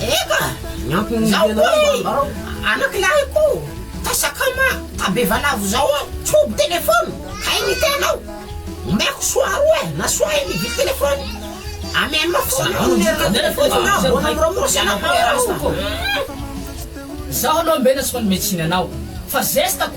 Eka! Zao koa i anakilahiko ta sakama ta bevalavo zao an, tsy omby telephone kay ny tenao, omeko soa roa e, na soa enina hividy telephone, amy mafy zany no niarina telephone na aboana am ramose anao koa e rasta. Zaho aloha mbe nasiko ny metsiny anao fa zesta ko.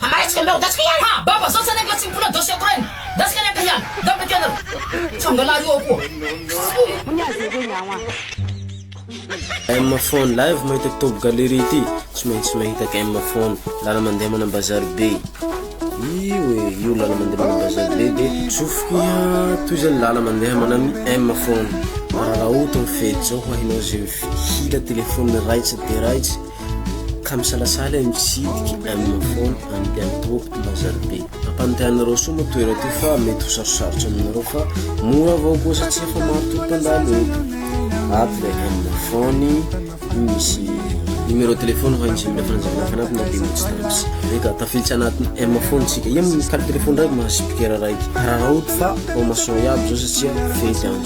Hamaresika anareo gasy ko iany. Ha! Baba zao zany ange tsy mipona doce ako reny. Gasy kely ange iany. Nga mety anareo. Tsanga lahy io akoho. M phone live mahita top galerie ity tsy maintsy mahita M phone lala mandeha mana bazary be io e io lala mandeha mana bazary be de zofiko iha toy zany lala mandeha mana ny M phone mararaoto ny fety zao ho ahinao zay hira telefony raitsy de raitsy Ka misalasala i Misidiky amin'ny fony any Bianto Mazaribe. Ampanotehanareo soa moa toerana ity fa mety ho sarosarotra aminareo fa mora avao koa satsia fa maro tokoa mpandalo eto. Ato ilay amin'ny fony misy numéro téléphone ho an'izay mila fanazavana fanatona dia mbola tsy tafiditra. Eka, tafiditra anatin'ny M fony tsika. Io mikalo téléphone raiky mahasipikera raiky. Hararaoty fa formation iaby zao satsia fety andro.